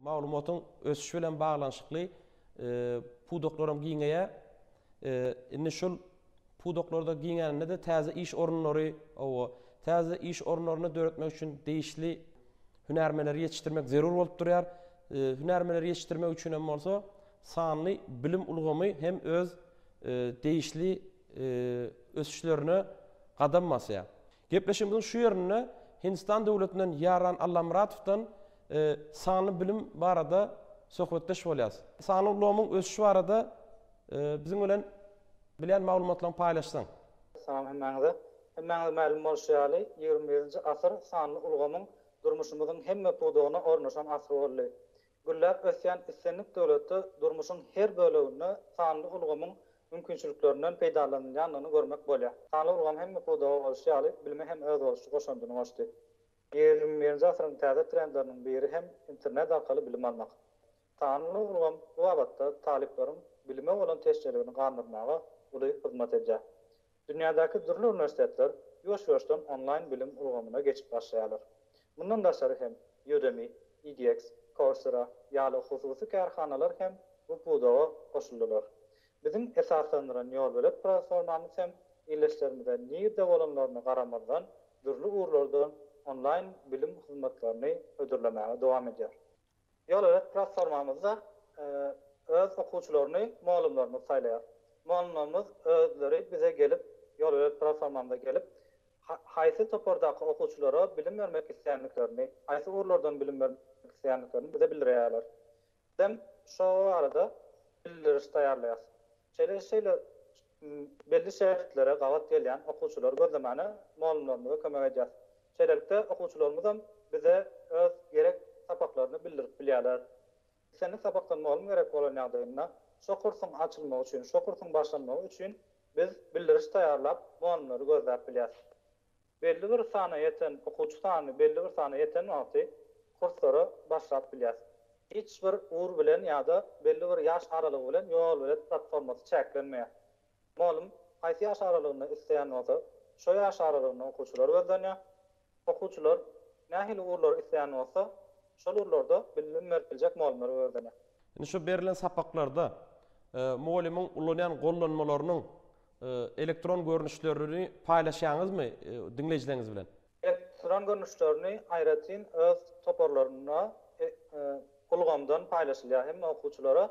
Maglumatyň ösüşi bilen baglanyşykly pudaklaram giňeýär. Indi şul pudaklarda giňäninde-de täze iş orunlary, hawa, täze iş orunlaryny döretmek üçin degişli hünärmenleri ýetişdirmek zerur bolup durýar. Hünärmenleri ýetişdirmek üçin hem bolsa sanly bilim ulgamy hem öz degişli ösüşlerine gadam basýar. Gepleşigimiziň şu ýerinde Hindistan döwletinden Ýaran Allamyratowdan sanly bilim barada söhbetdeş bolýarys. Sanly ulgamyň ösüşi barada biziň bilen bilýän maglumatlaryňy paýlaşsaň. Salam hemmäňize. Hemmäňize mälim bolşy ýaly, ýigrimi birinji asyr sanly ulgamyň durmuşymyzyň hemme pudagyna ornaşan asyr boldy. Gülläp ösýän islendik döwletde durmuşyň her böleginde sanly ulgamyň mümkinçiliklerinden peýdalanylýandygyny görmek bolýar. Sanly ulgam hemme pudaga bolşy ýaly, bilime hem özboluşly goşandyny goşdy. Ýigrimi birinji asyryň täze trendleriniň biri hem internet arkaly bilim almak. Sanly ulgam bu babatda talyplaryň bilime bolan teşneligini gandyrmaga uly hyzmat edýär. Dünýädäki dürli uniwersitetler ýuwaş-ýuwaşdan onlaýn bilim ulgamyna geçip başlaýarlar. Mundan daşary hem Udemy, edX, Coursera ýaly hususy kärhanalar hem bu pudaga goşuldylar. Biziň esaslandyran ýolbelet platformamyz hem ildeşlerimize nirde bolanlaryna garamazdan dürli ugurlardan onlaýn bilim hyzmatlaryny hödürlemäge dowam edýär. Ýol-ýörük platformamyzda öz okuwçylaryny mugallymlarymyz saýlaýar. Mugallymlarymyz özleri bize gelip, ýol-ýörük platformamyza gelip, haýsy topardaky okuwçylara bilim bermek isleýändiklerini, haýsy ugurlardan bilim bermek isleýändiklerini bize bildirýärler. Bizem şo barada bildiriş taýýarlaýarys. Şeýle-şeýle Belli şägirtlere gabat gelýän okuwçylary gözlemäne mugallymlarymyza kömek edýäris. Şeýlelikde, okuwçylarymyzam bize öz gerek sapaklaryny bildirip bilýärler. Islendik sapakdan mugallym gerek bolan ýagdaýynda, şo kursuň açylmagy üçin, şo kursuň başlanmagy üçin biz bildiriş taýýarlap, mugallymlary gözläp bilýäris. Belli bir sana ýeten okuwçy sany belli bir sana ýeten wagty kurslara başlap bilýäs. Hiç bir ugur bilen ýa-da belli bir ýaş aralygy bilen ýol-belet platformasy çäklenmeýär. Mugallym haýsy ýaş aralygynda isleýän bolsa, şo ýaş aralygynda okuwçylary gözlenýär. Okuwçylar nähili ugurlary isleýän bolsa, şol ugurlarda bilim berip biljek mugallymlary gözlenýär. Indi şu berlen sapaklarda mugallymyň ulanýan gollanmalarynyň Elektron görnüşlerini paýlaşýaňyzmy diňleýjileriňiz bilen? Elektron görnüşlerini aýratyn öz toparlarynda ulgamdan paýlaşylýar hem-de okuwçylara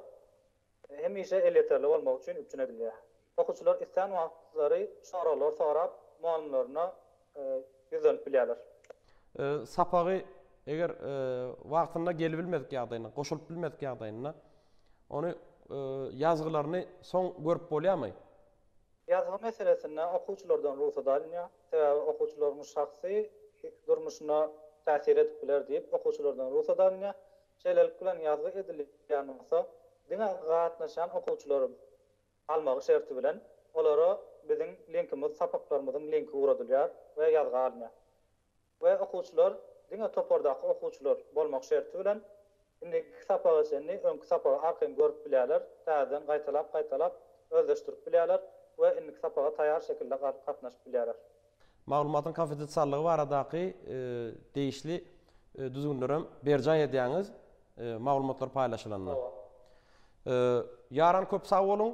hemişe elýeterli bolmagy üçin üpjün edilýär. Okuwçylar islän wagtlary soraglar sorap, mugallymlaryna ýüzlenip bilýärler. Sapagy eger wagtynda gelibilmedik ýagdaýynda, goşulyp bilmedik ýagdaýynda, ony ýazgylaryny soň görüp bolýarmy? Ýazgy meselesinde okuwçylardan rugsat alynýar. Sebäbi okuwçylaryň şahsy durmuşyna täsir edip biler diýip, okuwçylardan rugsat alynýar. Şeýlelik bilen ýazgy edilýän bolsa, diňe gatnaşýan okuwçylaryň almagy şerti bilen, olara biziň linkimiz sapaklarymyzyň linki ugradylýar we ýazga alynýar. We okuwçylar diňe topardaky okuwçylar bolmak şerti bilen, indiki sapaga çenli öňki sapagy arkaýyn görüp bilýärler, täzeden gaýtalap-gaýtalap özleşdirip bilýärler we indiki sapaga taýar şekilde gatnaşyp bilýärler. Maglumatyň konfidensiallygy baradaky degişli düzgünleri hem berjaý edýäňiz maglumatlar paýlaşylanda. Ýaran köp sag boluň.